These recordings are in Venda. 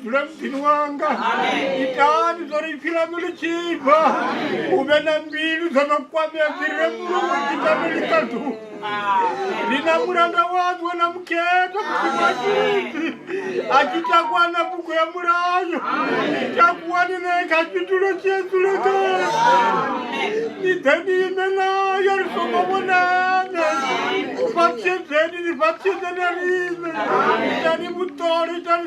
dzula muḓini wanga itani dzo ri pfhi ḽaṋu ḽi tshi bva u vhe na mbilu dzo no kwamea dzi re muluwe dzi tame ḽi ṱaḓu ri na mulanda waṋu we na mukhethwa muḓimatiti a tshi takuwa na bugu ya mulayo takuwani ne kha tshitulo tshi edzule khae ni ḓe ni ime nayo ri songo vhonana u fhaṱshedzeni ni fhaṱshedzeni a riṋe itani vhuṱole itani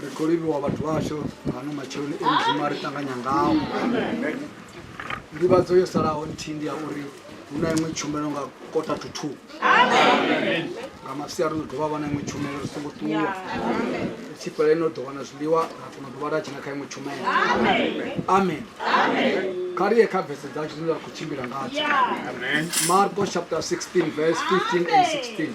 ri khou livhiwa vhathu vhashu ngano matsheloni e mudzimu a ri ṱanganya ngao ndivhadzo yo salaho nthihi ndi ya uri hu na iṅwe tshumelo nga kota to two nga mafsia ri ḓo dovha vha na iṅwe tshumelo ri songo ṱuwa ri tshi fhela ino ḓo wana zwiḽiwa ra kona u dovha ra dzhena kha iṅwe tshumelo amen kha ri ye kha vese dzashu dzine ra khou tshimbila ngadzo marko chapter 16 verse 15 and 16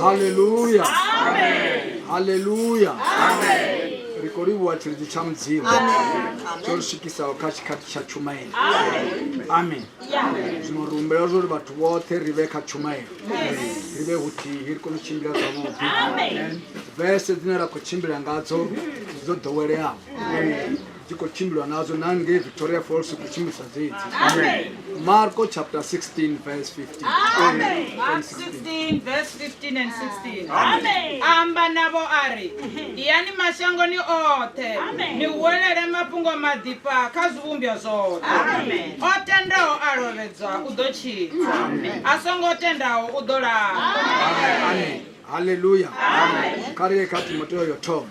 haleluya haleluya ri khou livhuwa tshilidzi tsha mudzimu tsho ri swikisaho kha tshikhathi tsha tshumaelo amen zwino ri humbela zwo ri vhathu vhoṱhe ri vhe kha tshumaelo ri vhe huthihi ri kone u tshimbila zwavhuḓi vese dzine ra khou tshimbila ngadzo dzo ḓoweleaho dzi khou tshimbilwa nadzo na ngei victoria falls khou tshimbilisa dzedzi marko chapter 16 verse 15 amba navho a ri iyani mashangoni oṱhe ni huwelele mafhungo maḓifha kha zwivhumbwa zwoṱhe o tendaho a lovhedzwa u ḓo tshidza a songo tendaho u ḓo laa haleluya kha ri ye kha timoteyo yo thoma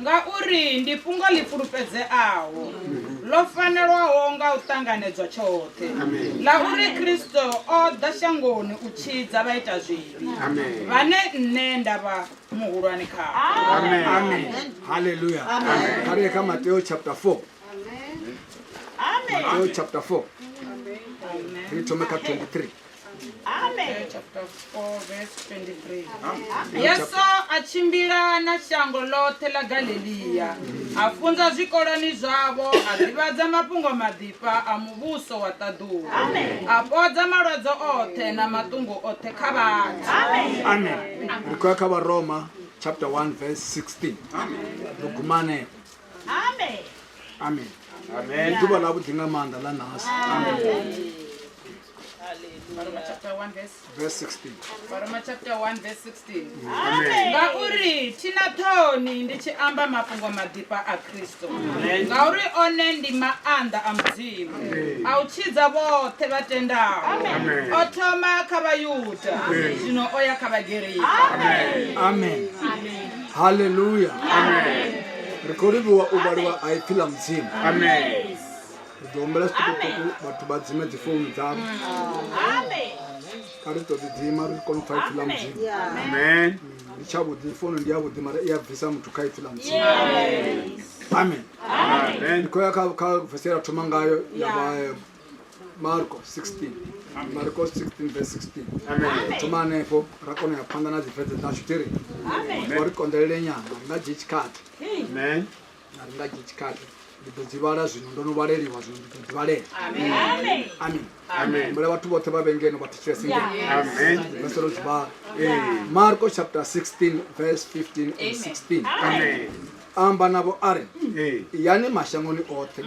Ngauri ndi fhungo ḽi fhulufhedzeaho, ḽo fanelwaho nga u ṱanganedzwa tshoṱhe, ḽa uri Kristo o ḓa shangoni u tshidza vhaitazwivhi, vhane nṋe nda vha muhulwane khavho. Haleluya. Kha ri ye kha Mateo chapter 4. Mateo chapter 4. Ri thome kha 23. Amen. chapter 4 verse 23 yesu a tshimbila na shango ḽoṱhe ḽa galileya a funza zwikoloni zwavho a ḓivhadza mafhungo maḓifha a muvhuso wa ṱaḓulu a fhodza malwadze oṱhe na maṱungu oṱhe kha vhathu amen ri khou ya kha varoma chapter 1 verse 16 ri guma hanefho Amen. amen ndi ḓuvha ḽavhuḓi nga maanḓa ḽa nasi varoma chapter 1 verse Verse 16. varoma chapter 1 verse 16 Amen. ngauri thi na ṱhoni ndi tshi amba mafhungo maḓifha a khristo ngauri one ndi maanḓa a mudzimu a u tshidza vhoṱhe vha tendaho Amen. o thoma kha vhayuda zwino o ya kha vhagerika amen haleluya ri khou livhuwa u vhaliwa ha ipfi ḽa mudzimu Amen. ri ḓo humbela zwiṱukuṱuku vhathu vha dzime dzi founu dzavho kha ri ṱoḓi dzima ri kone u pfa ipfi ḽa mudzimu ndi tshavhuḓi founu ndi yavhuḓi mara i a bvisa muthu kha ipfi ḽa mudzimu amen ndi khou ya kha vese ra thoma ngayo ya vha eh, marko 16 marko 16 verse 16 thoma hanefho ra kona ya phanḓa na dzivhedze dzashu tiri ri konḓelele nyana nga dzhie tshikhathi a ri nga dzhie tshikhathi ndi ḓo dzi vhala zwino ndo no vhaleliwa zwino ndi ḓo dzi vhalela amen mbula vhathu vhoṱhe vha vhengeno vha thetshelese ngeno vha solo dzi vhala marko chapter 16 verse 15 and 16 amba navho a ri yani mashangoni oṱhe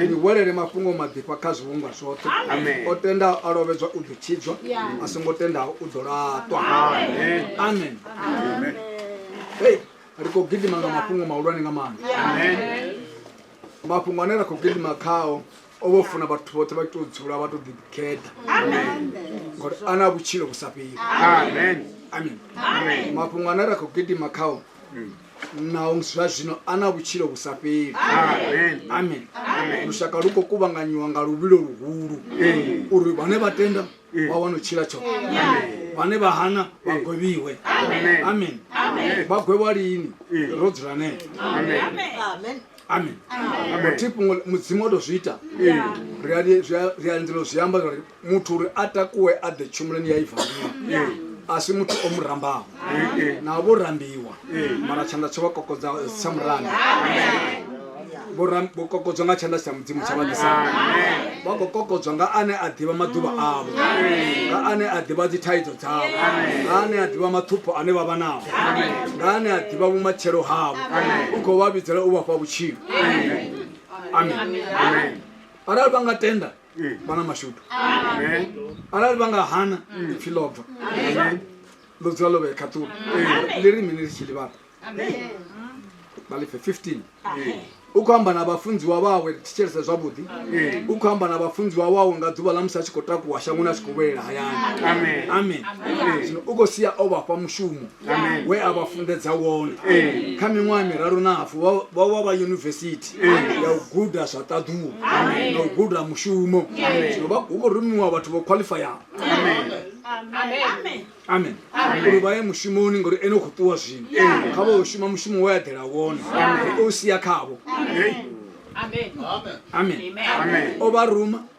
ni welele mafhungo maḓifha kha zwivhumbwa zwoṱhe o tendaho a lovhedzwa u ḓo tshidzwa a songo tendaho u ḓo laṱwa amen hei ri khou gidima nga mafhungo mahulwane nga maanḓa mafhungo ane ra khou gidima khao o vho funa vhathu vhoṱhe vha tou dzula vha tou ḓikhetha ngori a na vhutshilo vhu sa fheli amen mafhungo ane ra khou gidima khao naho zwa zwino a na vhutshilo vhu sa fheli amen lushaka lu khou kuvhanganyiwa nga luvhilo luhulu uri vhane vha tenda vha wana u tshila tsho vhane vha hana vha gwevhiwe amen vha gwevha lini ro dzula nee amen thi fhungo mudzimu o to zwi ita ri a lindela zwi amba uri muthu uri a takuwe a ḓe tshumuloni ya ivangiwa a si muthu o mu rambaho na vho rambiwa mara tshanḓa tsho vha kokodza tsha murambi vho kokodzwa nga tshanḓa tsha mudzimu tsha vhadisa vha khou kokodzwa nga ane a ḓivha maḓuvha avho nga ane a ḓivha dzithaidzo dzavho nga ane a ḓivha mathupho ane vha vha nao nga ane a ḓivha vhumatshelo havho u khou vha vhidzela u vhafha vhutshilo amen arali vha nga tenda vha na mashudu arali vha nga hana pfi ḽo bva ḽo dzula ḽo vhee khaṱulo ḽi ri mini ḽi tshi ḽivhala vha lifhe 15 u khou amba na vhafunziwa vhawe ri thetshelese zwavhuḓi u khou amba na vhafunziwa wawe nga ḓuvha ḽa musi a tshi khou takuwa shangoni a tshi khou vhuyelela hayani amen zwino u khou sia o vhafha mushumo we a vha funḓedza wone kha miṅwaha miraru na hafu vha- vha vha vha yunivesithi ya u guda zwa ṱaḓuwo na u guda mushumo zwino vha- hu khou rumiwa vhathu vho khwaḽifayaho amen uri vha ye mushumoni ngori ene u khou ṱuwa zwino kha vha u shuma mushumo we aḓela wone ri o sia khavho amen o vha ruma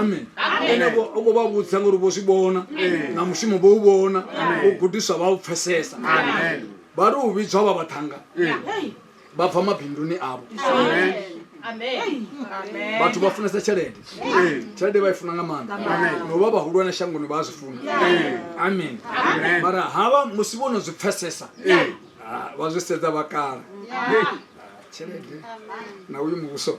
amen ene vho- u khou vha vhudza ngori vho zwi vhona na mushumo vho u vhona u gudiswa vha u pfesesa vha tou vhidzwa vha vhaṱhanga vha bva mabinduni avho vhathu vha funesa tshelede tshelede vha i funa nga maanḓa no vha vhahulwane shangoni vha a zwi funa amen mara havha musi vho no zwi pfesesa ah, vha zwi sedza vha kala Ah, tshelede na uyu muvhuso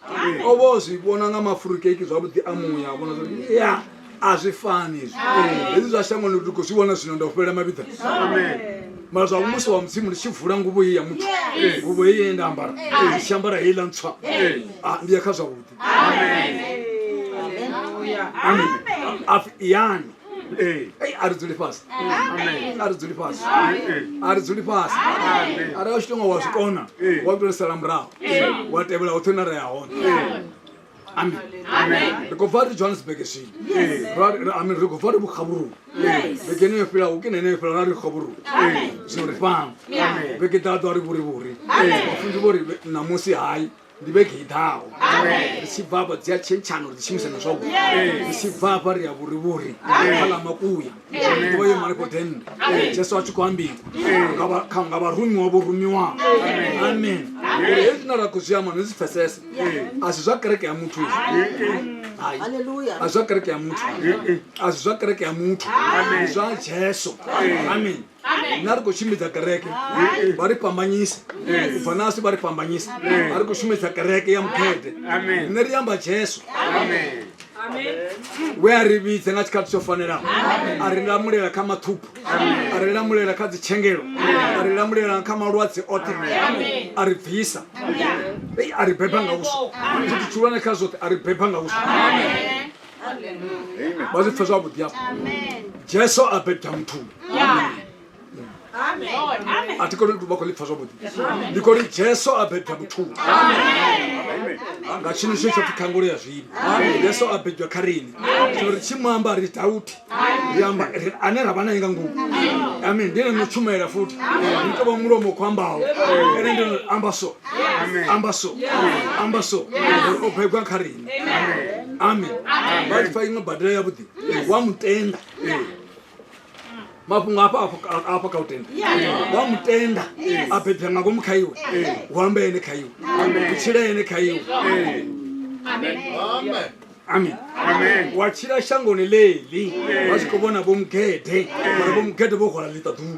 o vha o zwi vhona nga mafurukeiki zwavhuḓi a muya a vhona zwi ya a zwi fani hezwi hezwi zwa shangoni ndi khou zwi vhona zwino nda u fhelela mavhiḓa mara zwa musi wa mudzimu ndi tshi vula nguvho ye ya muthu nguvho ye ye nda ambara ndi tshi ambara heiḽa ntswa Ah, ndi ya kha zwavhuḓi amen apfi yani a ri dzuli fhasi a ri dzuli fhasi a ri dzuli fhasi a ri a tshi tonga wa zwi kona wa tou sala murahu wa tevhela hoṱhe na re ya hone amen ri khou bva ri johannesburg zwino amen ri khou bva ri vhukhavhuruu vhege ene yo fhilaho ke na ene yo fhilaho ra ri khavhuruu zwino ri fhano vhege ḓaḓo a ri vhurivhuri vhafunzi vho ri ṋamusi hai ndi vhege i ḓaho ri tshi bva afha dzi a tshentshano ri dzi shumisa na zwavhuḓi ri tshi bva afha ri ya vhurivhuri kha ḽa makuya ḓivha yo malefho dende jesu a tshi khou ambiwa nga vha- kha- nga vharumiwa vho rumiwaho amen uri hezwi zwine ra khou zwi amba no zwi pfesesa a si zwa kereke ya muthu izvi Hai. Hallelujah. a zwa kereke ya muthu a si zwa kereke ya muthu ndi zwa jesu amen na ri khou tshimbidza kereke vha ri fhambanyisa u bva nasi vha ri fhambanyisa a ri khou shumisa kereke ya mukhete rine ri amba jesu we a ri vhidze nga tshikhathi tsho fanelaho a ri lamulela kha mathuphu a ri lamulela kha dzitshengelo a ri lamulela kha malwadze oṱhe a ri bvisa a ri beba nga uswa zwithu tshihulwane kha zwoṱhe a ri beba nga uswa vha zwi pfe zwavhuḓi afho jesu a bebda muthu a thi koni vha khou ḽi pfa zwavhuḓi ndi khou ri jesu a bebda muthu nga tshino tsho tsho pfi khangulo ya zwino yesu a bebdwa kha riṋe so ri tshi mu amba ri dauti ri amba ri- ane ra vha naye nga ngomu amen ndi ene no tshumela futhi ni tovha mulomo khou ambaho ene ndi no amba so amba so amba so Ngori o bebwa kha riṋe amen vhatshi fa iṅwe badela ya vhuḓi wa mutenda mafhungo afha afha kha u tenda wa mutenda a bebya nga ngomu kha iwe hu amba ene kha iwe u tshila ene kha iwe amen wa tshila shangoni ḽeḽi vha tshi khou vhona vho mugede vhona vho mugede vho hwala ḽiṱaḓuku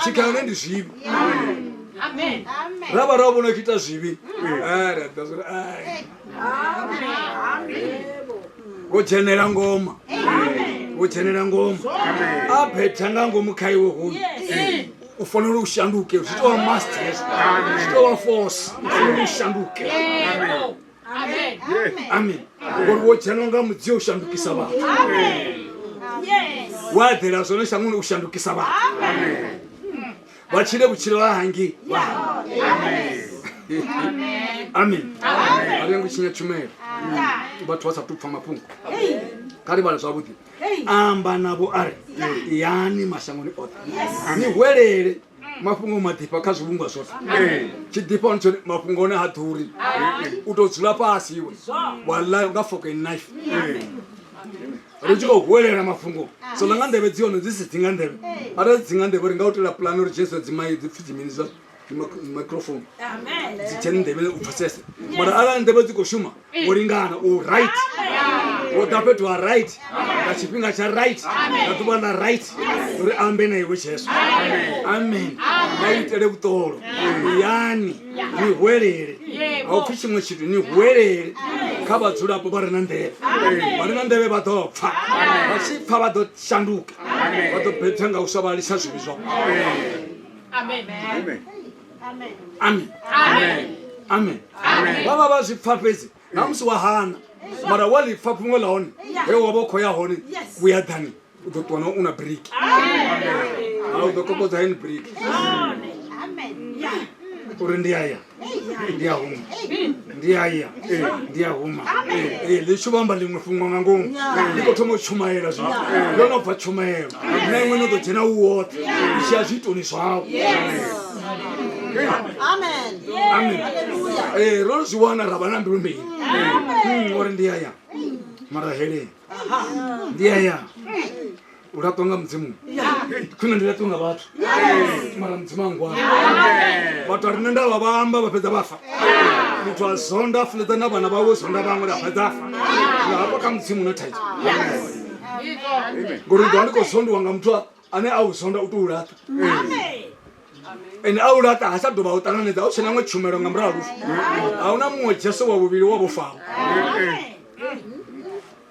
tshikhala ne ndi zwivhi ra vha ra vhona u ita zwivhi wo dzhenela ngoma wo dzhenela ngoma a phetha nga ngomu kha iwe hoyu u fanela u shanduke zwi tovha masters zwi tovha force u fanela u shanduke amen ngori wo dzhenwa nga mudzio u shandukisa vhathu wa eḓela zwone shangoni u shandukisa vhathu vha tshile vhutshilo ha hangi amen a lengo tshinya tshumelo vhathu vha sa tu pfa mafhungo kha ri vhale zwavhuḓi amba navho a ri yani mashangoni oṱhe ni hwelele mafhungo o maḓifha kha zwivhungwa zwoṱhe tshi ḓifha hone tshone mafhungo one ha ḓuri u tou dzula fhasi iwe waḽa nga foke knife ri tshi khou huwelela mafhungo so ḽa nga nḓevhe dzi hone dzi si dzi nga nḓevhe arali dzi nga nḓevhe ri nga u tela pulani uri jesu dzimai dzi pfhi dzimini zwa microphone dzi dzhene nḓevhe u pfesese mara arali nḓevhe dzi khou shuma wo lingana u right wo ḓa fhethu ha right nga tshifhinga tsha right nga ḓuvha ḽa right uri ambe na iwe jesu amen vha itele vhuṱolo yani ni hwelele a u pfhi tshiṅwe tshithu ni hwelele kha vhadzulapo vha re na nḓevhe vha re na nḓevhe vha ḓo pfha vha tshi pfha vha ḓo shanduka vha ḓo bethwa nga u sa vha lisa zwivhi zwao Amen. Amen. amen amen vha vha vha zwi pfa fhedzi na musi wa hana mara wa ḽi pfa fhungo ḽa hone he wa vha u khou ya hone vhuya ḓani u ḓo ṱuwa na u na briki u ḓo kokodza hen briki uri ndi aya ndi a huma ndi a ya ndi a huma Eh, ḽi tshi vhamba ḽiṅwe fhungo nga ngomu ndi khou thoma u tshumayela zwino ndo no bva tshumayelo na iṅwe no ḓo dzhena u woṱhe u tshi ya zwiitoni zwau Amen. amen Hallelujah. Eh, ro zwi wana ra vha na mbilu mbili Mm, uri ndi aya mara heleni ndi aya u laṱwa nga mudzimu khwine ndi laṱwe nga vhathu mara mudzimu angwana vhathu a rine nda vha vhaamba vha fhedza vhafa muthu a zonda a fuledza na vhana vhawe zonda vhaṅwe la fhedza afa nga hafha kha mudzimu na thaidzo ngori ndi ḓo ndi khou zondiwa nga muthu ane a u zonda u to u laṱa ende a u laṱa ha sa dovha u ṱanganedza u tshena ṅwe tshumelo nga murahu a hu na muṅwe jesu wa vhuvhili wa vhofao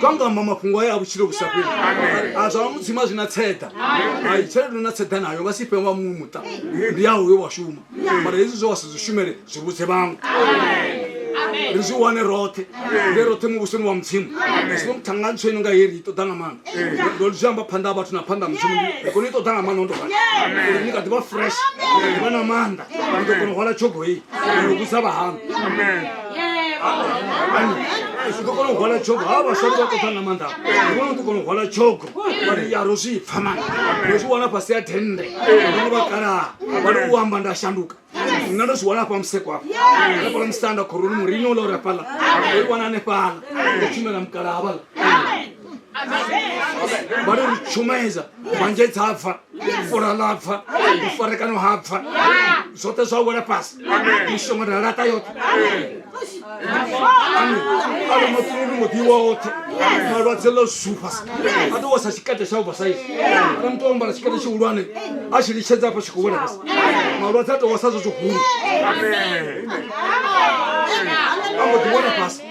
kangamba mafhungo aya a vhutshilo vhu sa fheli a zwa mudzima zwi na tseḓa ai tshelede na tseḓa nayo nga si fhe wa muṅwe muṱa ndi yaho yo wa shuma mara hezwi zwe wa si zwi shumele zwi vhudze vhaṅwe ri zwi wane roṱhe nge roṱhe muvhusoni wa mudzimu sino muthanga ntsho ino nga heri i ṱoḓa nga maanḓa ndo zwi amba phanḓa ha vhathu na phanḓa ha mudzimu ndi kono i ṱoḓa nga maanḓa ndo uri ni kha ḓivha fresh ni kha ḓivha na maanḓa ni ḓo kono hwala tshogo heyi no vhudza vhahaṋu zwi ḓo kona u hwala tshogo ha vhaswari vha ṱoḓa na maanḓa vhona ḓo kona u hwala tshogo vhari ya ro zwi pfa mani ro zwi wana fhasi ya thende vhone vha kalaha vhari u amba nda shanduka nna ndo zwi wana hafha museko afha nafhala musanda khoroni murinyo ula uri afhala oi wana anefhala o tshumela mukalaha vhala vhari ri tshumedza manje dza pfa fura ḽa pfa ufarekano ha pfa zwoṱhe zwa wela fhasi mishongo ra laṱa yoṱhe ale matununi muḓi woṱhe malwadze ḽo zufhasi a ḓo wasa tshikete tsha ubva saisi ale muthu o mbala tshikete tshihulwane a tshi litshedza afha tshi khou wela fhasi malwadze a tou wasa zwo zwihulu a mbo ḓi wela fhasi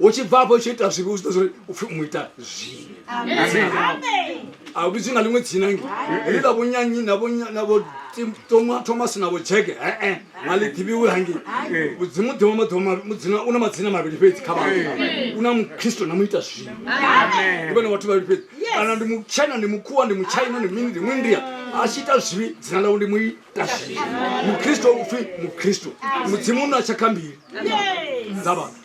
u tshi bva afho tshi ita zwivhi u zwiḓo zwori upfhi mu ita zwivhi a u vhidzwi nga ḽiṅwe dzina ngi heḽi ḽa vhonyanyi na vho toma thomas na vho jeke ee a ḽi ḓivhiwi hangi mudzimu ḓivha maḓuvha u na madzina mavhili fhedzi kha vhathu u na mukristo na mu ita zwivhi ndi vhone vhathu vhavhili fhedzi kana ndi mutshena ndi mukhuwa ndi mutshaina ndi mini ndi muindia a tshi ita zwivhi dzina ḽawe ndi mu mukristu upfi mukristu mudzimu u na tshakha mbili dza vhathu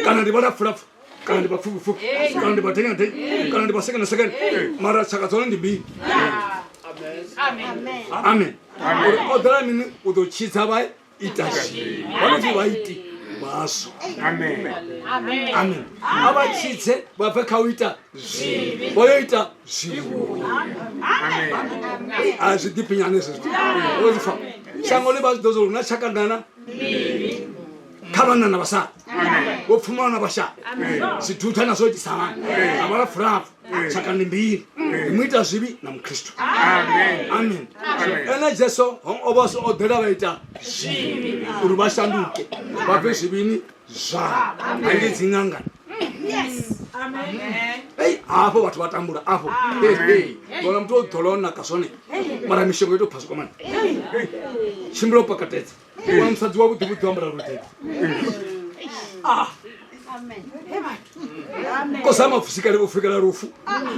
kana ndi vhalapfulapfu kana ndi vhapfufhipfufhi kana ndi vhadenyadenyi kana ndi vhasekenasekene mara tshaka dzone ndi mbili amen uri o ḓela mini u ḓo tshidza vha ita zwi vhanoti vha iti vhaswa amen a vha tshidze vha bve kha u ita zwi vho yo ita a zwi ḓiphinyane zwezwo fa shango ḽi vha zwi ḓo zwo luna tshakanana kha vhanna na vhasala vho pfumala na vhashala zwidutha na zwo itisamana na vhala furapfu tshaka ndi mbili ndi mu ita zwivhi na mukristu amen ene jesu o vha o ḓela vha ita zwivhi uri vha shanduke vha bve zwivhini zwavho ange dzi ṅangana ei hafho vhathu vha tambula afho vona muthu o ḓola o naka zwone mara mishongo ito phaswa kwamani tshimbila u pakatedza wana musadzi wa vhuḓi vhuḓi wambala luḓeḓi ah. kosama fusikale u fikela lufu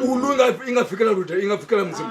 ulu inga fikela lude inga fikela mudzimu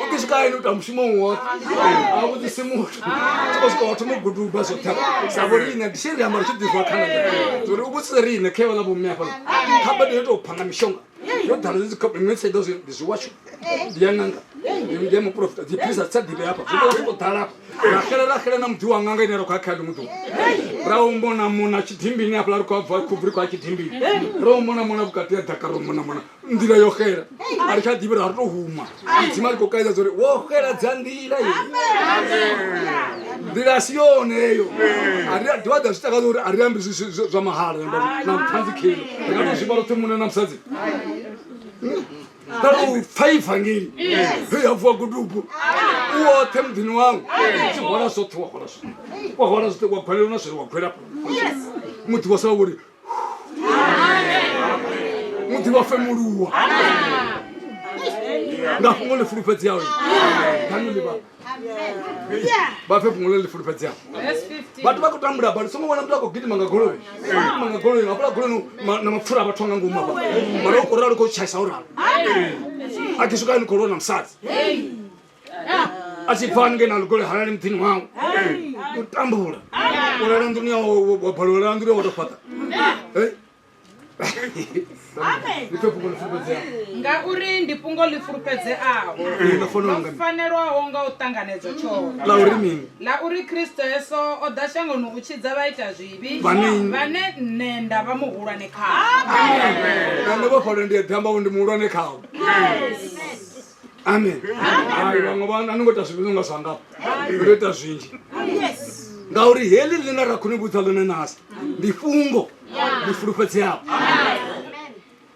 u ḓi swika hayani u ita mushumo woṱhe a vhudzisi muthu tsoko swika wathu muguduba zwo tha sa vho riṋe ndi tshi ri amba ri tshi ḓizwa khana uri u vhudzise riṋe khe vhala vhomme hafha kha bade yo tou phanga mishonga yo ḓala dzi khophe mme tsaido zwi ndi zwiwashu ndi ya ṅanga ndi ya muprofita dzi philisa dzi sa ḓivhe hafha zwi tou sokou ḓala hafha ra xela ra xela na muḓi wa ṅanga ine ra khou ya kha ḽiṅwe ḓuvha ra u mona mona tshidimbini hafhala ri khou abva khubvu ri khou ya tshidimbini ro u mona mona vhukati ya ḓaka ro mona mona nḓila yo xela a ri tsha ḓivhi ri a ri to huma dzima ri khou kaidza dza uri wo xeladza nḓila ye nḓila si yone eyo a ri a dovha ḓa zwi takadza uri a ri ambi zwa mahala na ṱhanzi khelo ri nga to zwiba roṱhe muṋe na musadzi ra tou pfa ivangeli he ya vuwa gudubu u oṱhe muḓini wawu tshi hwala zwoṱhe wa hwala zwoṱhe wa hwala zwoṱhe wa gwalelwa na zwere wa gwela muḓi wa sa wa vhori muḓi wa femuluwa nga fhungo ḽi fulufhedzeaho danu ḽi vha vha fhe fhungo ḽe ḽi fulufhedzeaho vhathu vha khou tambula bali songo vhona muthu a khou gidima nga goloi gidima nga goloi hafhala goloi na mapfura a vhathu a nga ngomu hafha mara u khou ralo khou tshaisa o ralo a khou swika ni khou lona musadzi a tshi pfa haningei na lukole halali muḓini wawe u tambula u lala nḓuni ya wa balelwa lala nḓuni ya wa to fhaṱa ngauri ndi fhungo ḽi fulufhedzeaho ḽo fanelwaho nga u ṱanganedzwa tshoṱhe ḽa uri kristo yeso o ḓa shangoni u tshidza vha ita zwivhi vhane nṋe nda vha muhulwane khaoane vha fanela ndi ya damba ndi muhulwane khao amen hai vhaṅwe vha a ni ngo ita zwivhi nga zwandapo ndo ita zwinzhi ngauri heḽi ḽine ra khou ni vhudza ḽone nasi ndi fhungo ḽi fulufhedzeaho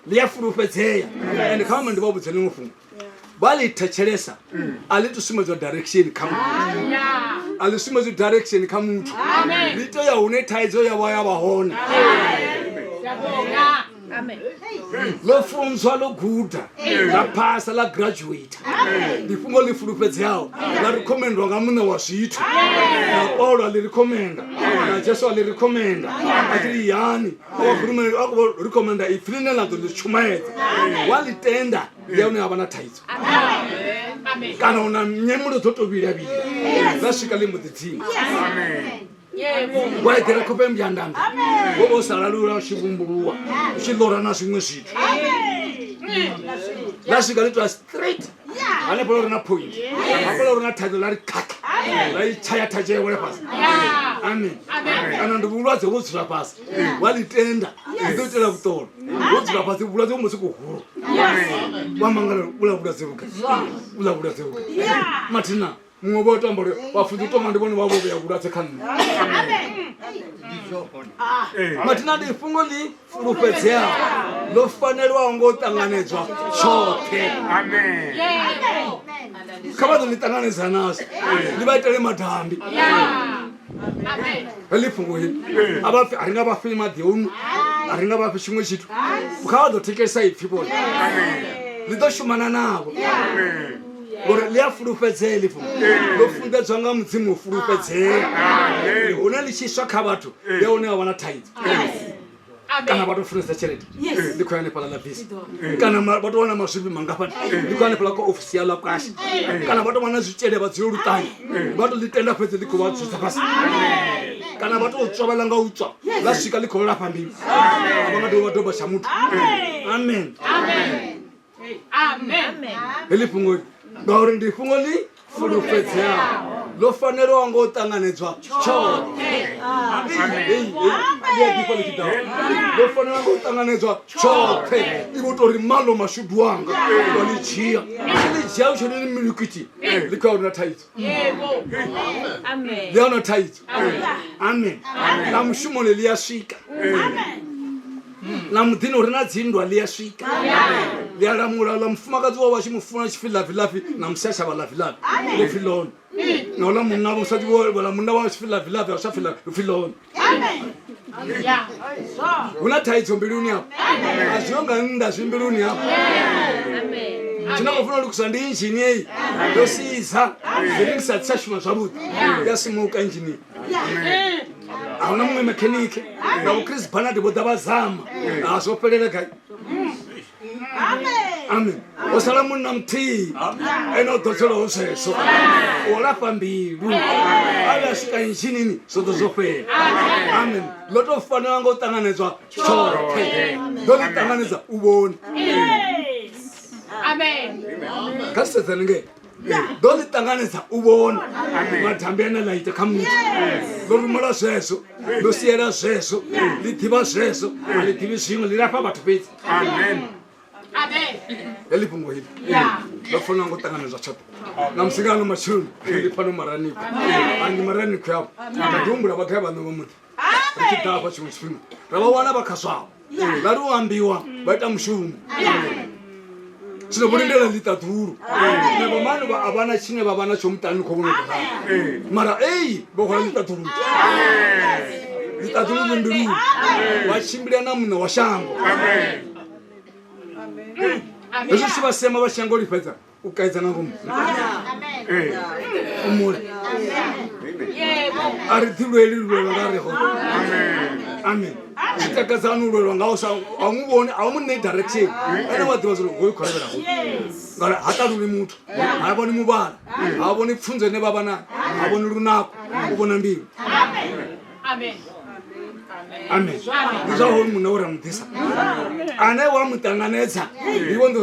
ḽi a fulufhedzea and kha vhama ndi vha vhudze ḽiṅwe fhungo vha ḽi thetshelesa a ḽi to sumbedzwa direction kha muthu a ḽi sumbedzwi direction kha muthu ḽi to ya hune thaidzo ya vha ya vha hone ḽo funzwa ḽo guda ḽa phasa ḽa graduata ndi fhungo ḽi fulufhedzeaho ḽa ri khomendwa nga muṋe wa zwithu na paulo a ḽi ri khomenda na jesu a ḽi ri khomenda a tshi ri yani akhurumeli a khou ri khomenda ipfi ḽine ḽa ḓo ḽi tshumaedza wa ḽi tenda ndi ya hune ha vha na thaidzo kana u na nyemelo dzo to vhilavhila ḽa swika ḽi mbo ḓi dzima wa eḓela khope mbyandanda wo vha u sa lalula u tshi vumbuluwa u tshi ḽora na zwiṅwe zwithu ḽa swika ḽi twa straight hanefho ḽa uri na point hafho ḽa uri na thaidzo ḽa ri khakha ḽa i tshaya thatshee wele fhasi amen kana ndi vhulwadze vho dzula fhasi wa ḽi tenda ḽi ḓo itela vhuṱolo vho dzula fhasi vhulwadze vho musi kuhulu wa mangala ula vhulwadze vhuka ula vhulwadze vhuka mathina muṅwe vho tamba uri vhafunzi u toma ndi vhone vha vho vhea vhulwadze kha nṋe mathina ndi fhungo ḽi fulufhedzeaho ḽo fanelwaho ngo u ṱanganedzwa tshoṱhe kha vha ḓo ḽi ṱanganedza nazwo ḽi vha itele madambi heḽi fhungo hili a vha pfi a ri nga vha fei maḓi onu a ri nga vha fhi tshiṅwe tshithu kha vha ḓo thekelisa ipfhi vhone ḽi ḓo shumana navho ngori ḽi a fulufhedzea ḽi fhungo ḽo funḓedzwa nga mudzimu u fulufhedzea Ndi hune ḽi tshi swa kha vhathu ndi hune wa vha na thaidzo kana vha to funesa tshelede ndi khou ya hanefhaḽa ḽa bisi kana ma- vha to wana mazwifhi mangafhani ndi khou ya hanefhaḽa kwa ofisi ya ḽa kwashe kana vha to wana zwitshele vha dzio luṱanyi vha to ḽi tenda fhedzi ḽi khou vha dzudza fhasi kana vha to tswa vha ḽa nga u tswa ḽa swika ḽi khou lafha mbili a vha nga dovhi vha doba tsha muthu amen heḽi fhungo ngauri ndi fhungo ḽi fulufhedzeaho ḽo fanelwa ngo ṱanganedzwa tshoṱhe ḽo fanelwa ngo ṱanganedzwa tshoṱhe i vho tori malo mashudu anga wa ḽi dzhia ḽi dzhia utshoni ḽi milikiti ḽi khou ya uri na thaidzo ndi ono thaidzo amen na mushumoni ḽi a swika na muḓini uri na dzinndwa ḽi a swika ḽi a lamula ḽa mufumakadzi wa vhatshi mufuna tshi pfi lavilavi na musashavha lavilavi ḽi pfi lone na uḽa munna vha musati vhola munna wa tshi pfi lavilavi a sa pfi lone hu na thaidzo mbiluni afho a zwiho nga nnḓa zwi mbiluni afho tshine khou funa u lukisa ndi injini eyi yo siza zwiringi sa tsa shuma zwavhuḓi ya simuka injini a huna muṅwe mekhenike na vho chris banard vho ḓa vha zama a zwo fhelela gai amen o sala munna muthihi ene o ḓo tselaho zwezwo o lafha mbilu a vhe a swika nshinini zwo ḓo zwo fhela amen ḽo tou fanela nga u ṱanganedzwa tshoṱhe ḓo ḽi ṱanganedza u vhoni kha sedzani ngee ḓo ḽi ṱanganedza u vhona mathambi ane ḽa ita kha muthu ḽo rumela zwezwo ḽo siela zwezwo ḽi ḓivha zwezwo a ḽi ḓivhi zwiṅwe ḽi lafha vhathu fhedzi heḽi fhungo hili ndo fanela ngo ṱanganedzwa tshoṱhe na musi nga ano matsheloni ndi fhano maraniko angi maraniko yavho ndi humbula vhagai vhaṋe vha muḓi ri tshi ḓafha tshiṅwe tshifhinga ra vha wana vha khaswaho vha ri u ambiwa vha ita mushumo zwino vho lindela ḽiṱaḓulu na vhomano vha a vha na tshine vha vha na tsho muṱani khou vhona ḓa mara ei vho hwala ḽiṱaḓulu ḽiṱaḓulu ḽimbiluni vha tshimbila na muṋe wa shango hezwi tshi vha sema vha shango lifhedza u kaidza nga ngomu umule a ri ḓi lweli lulwelwa nga ri hone amen zwi takadzani u lwelwa ngao sa a mu vhoni a mu ṋei direction ene wa ḓivha zwo hoyu khou levhela ho ngauri ha ṱaluli muthu ha vhoni muvhala ha vhoni pfunzo ine vha vha nayo ha vhoni lunako u vhona mbilu amen ndi zwa hoyu munna wo ra mu ḓisa ane wa mu ṱanganedza ndi vhonḓo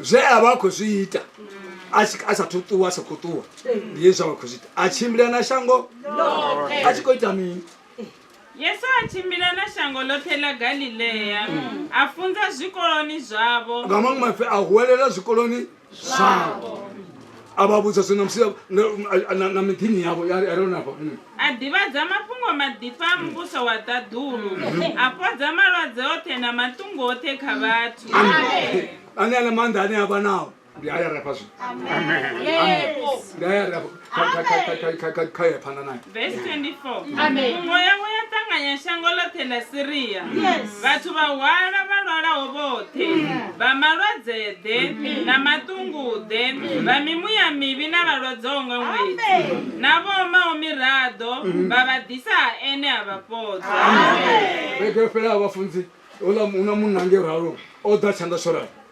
zwe a vha a khou zwi ita a tshi- a sathu ṱuwa a sa khou ṱuwa ndi hezwi a vha khou zwi ita a tshimbila na shango a tshi khou ita mini yesu a tshimbila na shango ḽoṱhe ḽa galilea a funza zwikoloni zwavho nga maṅwe maipfi a huwelela zwikoloni zwavho a vha vhudza zwino musi na miḓini yavho yareonafha a ḓivhadza mafhungo maḓifha a muvhuso wa ṱaḓulu a fhodza malwadze oṱhe na maṱungu oṱhe kha vhathu ane ana maanḓa ane a vha nao ndi aya refa zwino ndi aya refa kha ye phanḓa nayo Verse 24. Amen. Muya we a ṱanganya shango ḽoṱhe ḽa Siria. Yes. Vhathu vha hwala vha lwalaho vhoṱhe. Vha malwadzeḓe na maṱunguḓe, vha mimuya mivhi na vhalwadzaho nga ṅwedzi. Na vho omaho miraḓo vha vha ḓisa ha ene a vha fhodza. vhege yo fhelaho vhafunzi uḽa una munna ngei ralo o ḓa tshanḓa shorani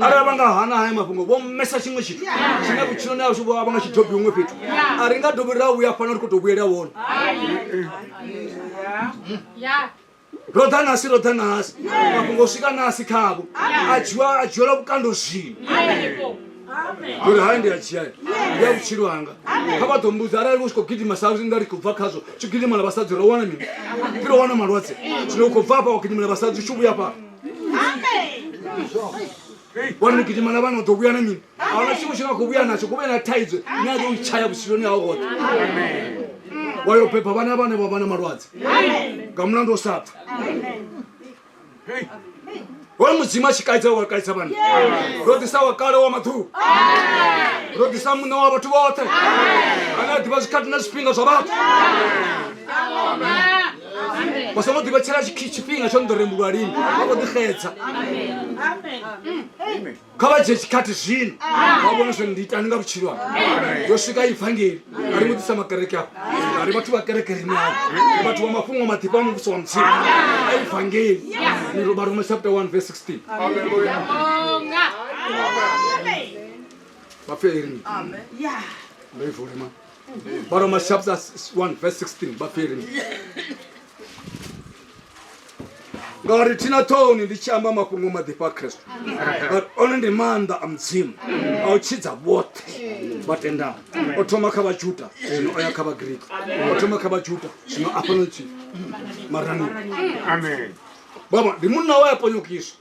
arali vha nga hana haya mafhungo vho mmesa tshiṅwe tshithu tshine vhutshiloni ashu vho vha nga tshi dobi huṅwe fhethu a ri nga dobi ra vhuya fana ri khou tou vhuyela wone ro ḓa nasi ro ḓa nasi mafhungo swika nasi khavho a dzhiwa a dzhielwa vhukando zwino uri hai ndi a dzhia ndi a vhutshilo hanga kha vha ḓo mbudza arali u tshi khou gidima sa nga ri khou bva khazwo tshi gidimela vhasadzi ro wana mini ri ro wana malwadze zwino u khou bva afha wa gidimela vhasadzi u tshi vhuya fhaa wana ni gidima na vana u ḓo vhuya na mini ahuna tshiṅwe tshine a khou vhuya natsho ku vhe na thaidzo ni a ḓo u tshaya vhutshiloni hao hoṱhe wa yo beba vhana vhane vha vha na malwadze nga mulandu o sa pfa hoyo mudzimu a tshi kaidza wa kaidza vhana ro ḓisa wa kale wa maḓuvha ro ḓisa muṋe wa vhathu vhoṱhe ane a ḓivha zwikhathi na zwifhinga zwa vhathu vha songo ḓivhetshela tshifhinga tsho nḓo rembulwa lini vha kho ḓixedza kha vha dzhie tshikhathi zwino vha vhone zwo ndi itani nga vhutshilo ha yo swika ivangeli a ri mudisa makereke afho a ri vhathu vha kereke ri nao ri vhathu vha mafhungo maḓifha a muvhuso wa mudzimu a ivangeli ni roba roma chapter 1 verse 16 vha pfe eri ndo ivulema baroma chapter 1 verse 16 bapfiri ngauri thina ṱhoni ndi tshi amba mafhungo maḓifha a khristu but one ndi maanḓa a mudzimu a u tshidza vhoṱhe vha tendaho o thoma kha vhajuda zwino o ya kha vhagriki o thoma kha vhajuda zwino a fhano tshi marani baba ndi munna we a ponyokiswa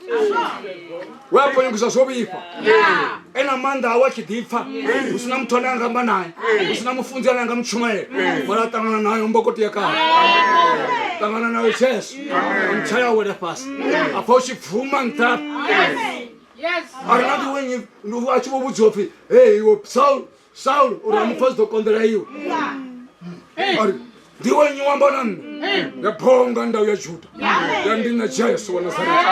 we a ponyokiswa zwo vhifha ena maanḓa awe a tshi ḓipfa hu sina muthu ane anga amba naye hu sina mufunzi ane anga mutshumele mara a ṱangana nayo mbokoti ya kale ṱangana nayo jesu ntsha ya wela fhasi a pfa u tshi bvuma nṱha a ri na ḓiwenyi a tshi vho vhudziwa pfhi hei iwe saul saulo uri amupfa zwi ḓo konḓela iwe ari ndi iwe nyi wamba na nṋe ya phonga ndau ya juda ya ndi na tshia yesu wa nasareta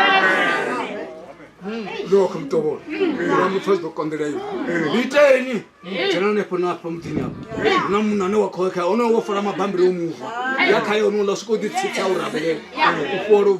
lokho mtobolo uramupfa zwi ḓo konḓela iwe iteni dzhena hanefho na afha muḓini apo na munhu ane wa khoekha onoyo wo fola mabambiri o muva ya khaye onoula swika u ḓitsitsa u rabelela u folo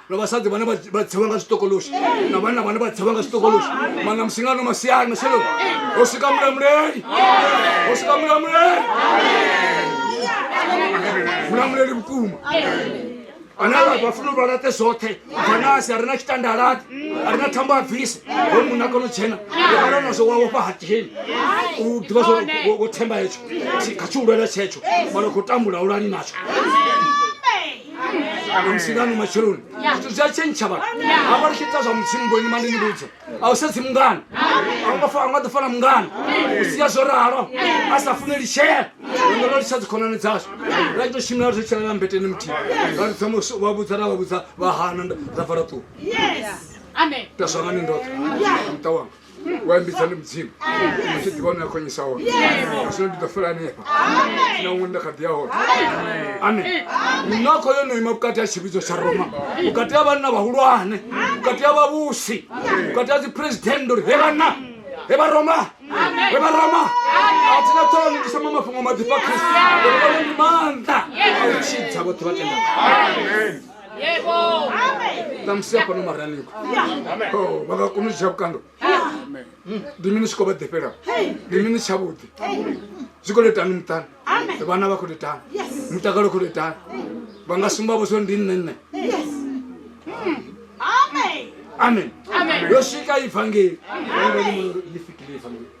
na vhasadzi vhane vha tsewa nga zwitokoloshi na vhanna vhane vha tsewa nga zwitokoloshi mana musingano masiani maselo ho swika mulamuleli ho swika mulamuleli mulamuleli vhukuma ane vhafuna uvha laṱe zwoṱhe vanasi a ri na tshitandalati a ri na thambo a bvise ho munna kono tshena ukala nazwo wa wofha hatiheni u ḓivha zwo wo themba hetsho kha tshihulwane tshetsho mana khou tambula ulani natsho msingano matshiloni zwithu zwi a tshentsha vhathu a vha litshidza zwa mudzimu boni mandi ni vhudza a u sedzi mungana a nga fa a nga ḓi fana mungana u sia zwo ralo a sa fune litshela ndo ndo litsha dzikhonani dzashu ra ito shimela ri tshelela mbeteni muthihi ra lidza musu vha vhudza ra vha vhudza vha hana nda- ra bva ra ṱuwa Yes. Amen. taswa nga ni ndoṱhe muṱa wanga wayambitsani mudzimu asi ḓivha une a khonyisa hone asino ndi ḓo fela hanefha sina huṅwe nda kha ḓi ya hone ane minakho yo no ima vhukati ha tshivhidzo tsha roma vhukati ha vhanna vhahulwane vhukati ha vhavhusi vhukati ha dziphuresidennde uri he vhanna he vha roma he vha roma a thina ṱhoho ni ndisama mafhungo maḓifha kristu uri vhone ndi maanḓa a u tshidza vhoṱhe vha tenda ṱamusi hafhano maraliko oh, vha nga kona u dzhia vhukando ndi mini tshi khou vha ḓifhela ndi mini tshavhuḓi zwi khou letani muṱani vhana vha khou letani mutakalo khou letani vha nga sumba vho zwo ndi nṋe nṋe amen yo swika ivangeli ḽi fikile ivangeli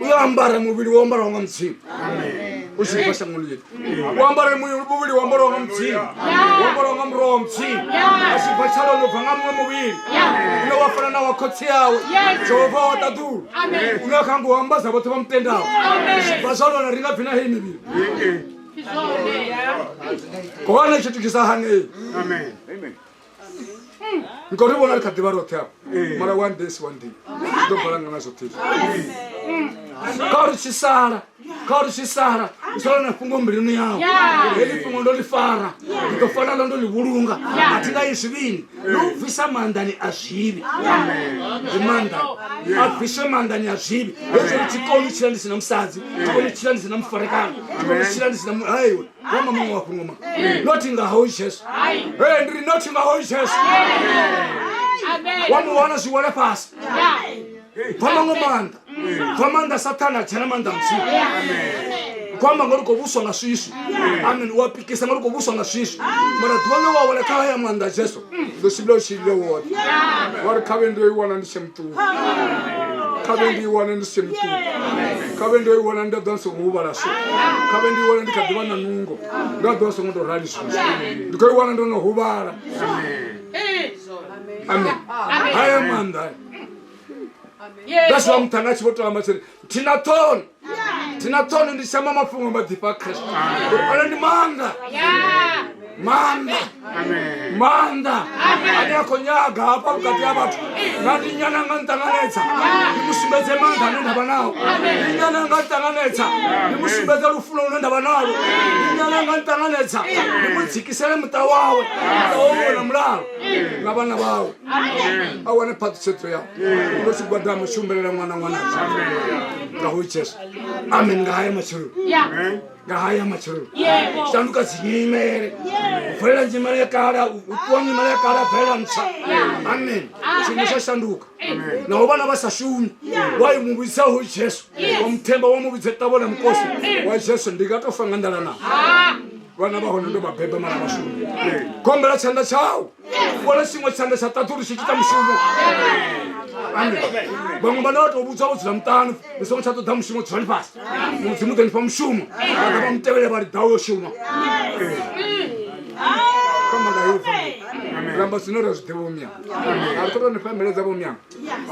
uyo ambare muvhili wo ambaraho nga mudzimu u tshi livha shangoni ḽi u ambare muvhili wo ambaraho nga mudzimu wo ambaraho nga muroho wa mudzimu a tshi bva tshalo no bva nga muṅwe muvhili une wa fana na wa khotsi yawe jehova wa ṱaḓulu une a kha ngo ambadza vhoṱhe vha mutendaho vha zwa lona ri nga bvi na heyi mivhili hone tshithu tshisa hanei ngauri vhona ri kha ḓivha roṱhe afho mara one day si one day ri ḓo bala nga nazwo ṱhii kha uri tshi sala kha uri tshi sala u sala na fhungo mbiluni yau heḽi fhungo ndo ḽi fara ndi ḓo fana ḽo ndo ḽi vhulunga a thi nga yi zwivhini ḽo u bvisa maanḓani a zwivhi ndi maanḓani a bviswe maanḓani a zwivhi hezwo ri thi koni u tshila ndi si na musadzi thi koni u tshila ndi si na mufarekano thi koni u tshila ndi si na muhaiwe wama muṅwe wa fhungo ma nothi nga hoyu jesu e ndi ri nothi nga hoyu jesu wa mu wana zwi wele fhasi bva maṅwe maanḓa bva maanḓa sathana dzhena maanḓa muthihi kwamba ngori ko vuswa nga swiswi amen wa pikisa ngori ko vuswa nga swiswi mara ḓuvha ḽe wa wela kha haya maanḓa jesu ndo si ndo tshi ile woṱhe ngori kha vhe ndo i wana ndi tshe muṱuku kha vhe ndi i wane ndi tshe muṱuku kha vhe ndo i wana nda ḓo ndi songo huvhala so kha vhe ndi i wana ndi kha ḓivha na nungo nda ḓo songo tou rali so ndi khou i wana ndo no huvhala amen haya maanḓa ngazwi wa muṱhanga a tshi vho to amba tshiri thina thono thina thono ndi shamba mafhungo maḓifha khristu uri ono ndi maanḓa maanḓa maanḓa ane a khou nyaga hafha vhukati ha vhathu nga ndi nyana nga nṱanganedza ndi mu sumbedze maanḓa ane nda vha nao ndi nyana nga nṱanganedza ndi mu sumbedze lufuno lune nda vha nalo ndi nyana nga nṱanganedza ndi mu dzikisele muṱa wawe muṱa wawe na mulalo na vhana vawe a wane phaṱhisedzo yau ndo tshigwada mushumbelela ṅwana ṅwana nga ho itsheswo amen nga haya matshelo nga haya matshelo shanduka dzinyimele u bvelela nyimele ya kala u ṱuwa nyimele ya kala bvelela ntswa amen tshiṅwe tsha shanduka naho vhana vha sa shumi wa i mu vhidza ho jesu wa muthemba wa mu vhidze ṱavho na mukosi wa jesu ndi nga to fa nga ndala na vhana vha hone ndo vha beba mara vhashumi kombela tshanḓa tshau wala tshiṅwe tshanḓa tsha ṱaṱulu tshi ita mushumo vhaṅwe vhane vha tou vhudzwa vho dzula muṱanu ni songo tsha ṱoḓa mushumo dzulani fhasi mudzimu ḓo ni fha mushumo vhaḓa vha mutevhele vha liḓaho yo shuma ramba zwine ra zwi ḓivha vhomyana a ri ṱoḓa ni fha mbeledza vhomyana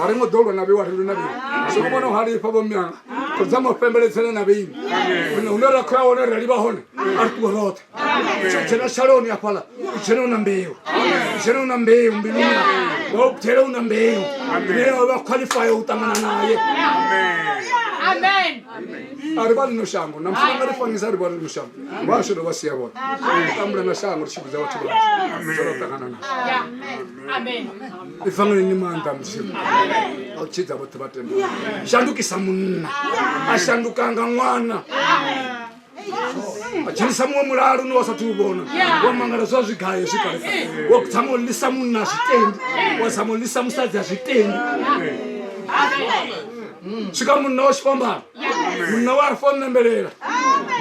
a ri ngo ḓo lwa na vheiwa ri lu na vheiwa soko vhona ha lifha vhomyana ri dza mafembeledzele na vheini hune ra khou ya hone ra livha hone a ri ṱuwe roṱhe tsho dzhena shaloni hafhaḽa u dzhena u na mbeu u dzhena u na mbeu mbiluni yau wa u gudela u na mbeu ine ya vha khwaḽifaya u ṱangana naye a ri vha lino shango na mfuna nga ri fangisa a ri vha lino shango vha asho dovha sia vhoṱhe ri tambula na shango ri tshi vhudza vhathu vhashu zwo ṱangana na ifangeleni maanḓa mudzimu a u tshidza vhoṱhe vha tenda shandukisa munna a shandukanga ṅwana dzhenisa muṅwe mulalo une wa sa tou vhona wa mangala zwa zwigayo zwi kalesa wa dzama u lisa munna a zwitendi wa dzama u lisa musadzi a zwitendi swika munna wa xifambana munna wa rifa u nembelela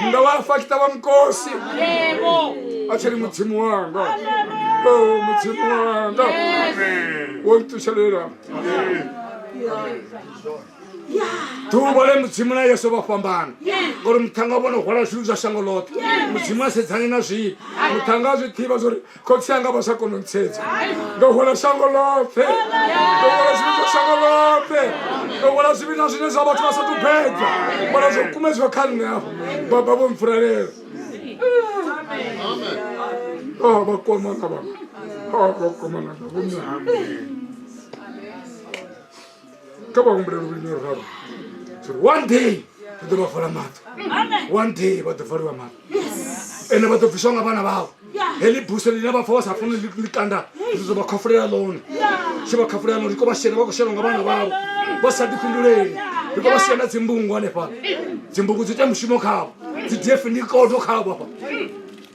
munna wa rifa kita va mukosi a cheri mudzimu wanga oh, mudzimu wanga wo ni tuxelela ḓuvha le mudzimu na yesu vha fhambana ngori muṱhanga vhono hwala zwithu zwa shango ḽoṱhe mudzimu a sedzani na zwino muṱhanga a zwi ḓivha zwa uri khotsi anga vha sa kona u ntsedza ndo hwala shango ḽoṱhe ndo hwala zwithu zwa shango ḽoṱhe ndo hwala zwivhi na zwine zwa vhathu vha sa tubedza hwala zwo kumedziwa kha nṋe afho baba vho mpfuralela oh, vha komana vha oh, vha komana vha vho mihambeli kha vha humbule luvhili na luraru sori one day ri ḓo vha fola maṱo one day vha ḓo foliwa maṱo ende vha ḓo bviswa nga vhana vhao heḽi buso ḽine vha pfa vha sa funi ḽikanda ri ḓo vha khafulela ḽone tshi vha khafulela ḽone ri kho vha shela vha khou shelwa nga vhana vhao vha sa ḓifhinduleli ri kho vha shela dzimbungu hanefha dzimbungu dzi ita mushumo khavho dzi df ndi kodo khavho afha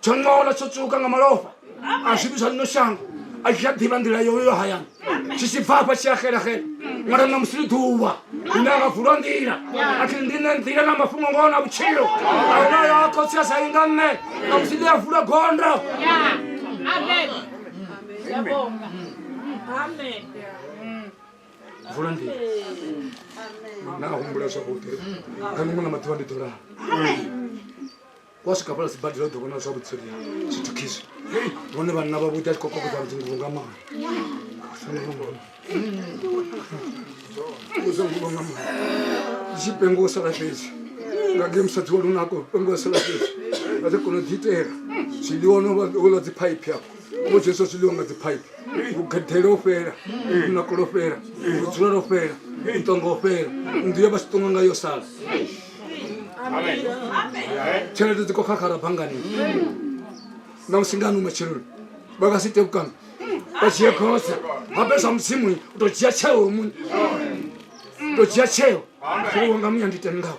tsho ṅola tsho tswuka nga malofha a zwithu zwa lino shango a tshi a ḓivha nḓila yoyo yo hayani tshi tshi bva afha tshi a xelaxela ṅwana na musi ḽi ḓuvha ine a nga vulwa nḓila a thi ndi ne nḓila na mafhungo ngoho na vhutshilo a huna yo a khotsi a sa yi nga nṋe na musi ḽi a vulwa gondo vula nḓila na a humbula zwavhuḓi kha miṅwe na maḓuvha ndi ḓo lala wa swika fhala sibadela u ḓo vhona zwa vhutsoli ha zwithu khizwi vhone vhanna vha vhuḓi a tshi khou kokodza vhudzinguvu nga maha uzanguva nga maha tshi pengo sala fhedzi nga ge musadzi wa lunako pengo sala fhedzi a ḓo kona u ḓiitela zwiḽiwa no ola dziphaiphi afho o dzheswa zwiḽiwa nga dziphaiphi vhugedele o fhela lunako lo fhela vhudzula lo fhela ntongo o fhela nnḓu ya vha si ṱonga nga yo sala tshelede dzi khou khakhara banngani na musi ngani u matsheloni vha nga si tevhukana vha dzhie khotsa ha pesa mudzimu u to dzhia tsheo muṋe to dzhia tsheo zwiwo nga muya ndi tendaho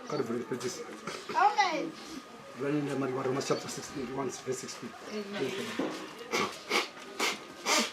kha ri bvele fhedzisa Romans chapter 16, 1 verse 16.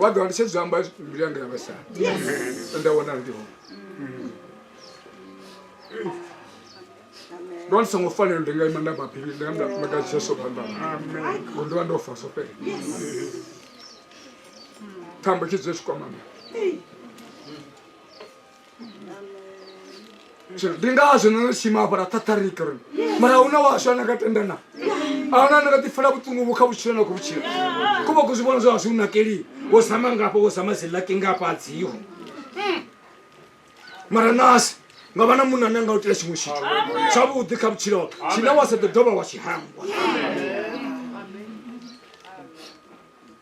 vha ḓo ndi sedza amba mbilu yanga ya vhasala nda wana ndi hone ndo ndi songo fanela ndi nga ima nda mabili ndi nga maka jesu phanḓana ngo ndi vha ndo fa so fhela thambo tshi dzule tshikwamana Sure. ndi ngazvo no shima hafha ra thatharika ri mara hu na washu ane a nga tenda na a huna ane nga ḓi fela vhuṱungu vhu kha vhutshilo na khou vhutshilo ku vha ku zwi vhona zwa washu u nakelii wo zama ngafha wo zama zilaki ngafha a dziho mara nasi nga vha na munna ane a nga u itela tshiṅwe tshithu tshavhuḓi kha vhutshilo hau tshine wa sa ḓo dovha wa tshi hangwa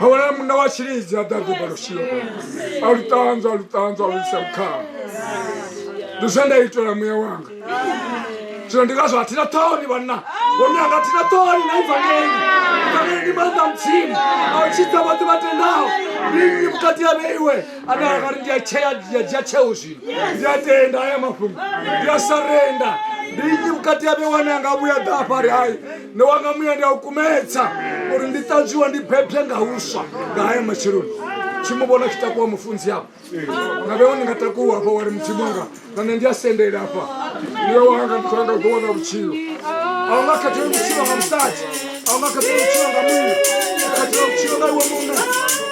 Hawala munna wa tshilidzi a ḓa ḓiba lushilo a lu ṱanzwa a lu ṱanzwa a lu isa vhukhao ndi zwe nda itela muya wanga zwino ndi ngazwo athina ṱhoni vhanna vhone anga athina ṱhoni na ivangeli ivangeli ndi maanḓa mudzimu a u tshidza vhoṱhe vha tendaho ndi nnyi vhukati ha vheiwe ane anga ri ndi a tshea ndi a dzhia tsheo zwino ndi a tenda haya mafhungo ndi a sarenda ndi nnyi vhukati ha vheiwe ane anga vhuya ḓa afha ri hayi ne wa nga muya ndi a u kumedza uri ndi ṱanzwiwa ndi bebye nga huswa nga haya matsheloni tshi mu vhona tshi takuwa mufunzi apo nga vhewo ndi nga takuwa afha wari mudzimu wanga na nṋe ndi a sendela afha ndiwe wanga ndi khou langa u ḓo wana vhutshilo a u nga khathele vhutshilo nga musadzi a u nga khathele vhutshilo nga munna u khathela vhutshilo nga iwe muṋe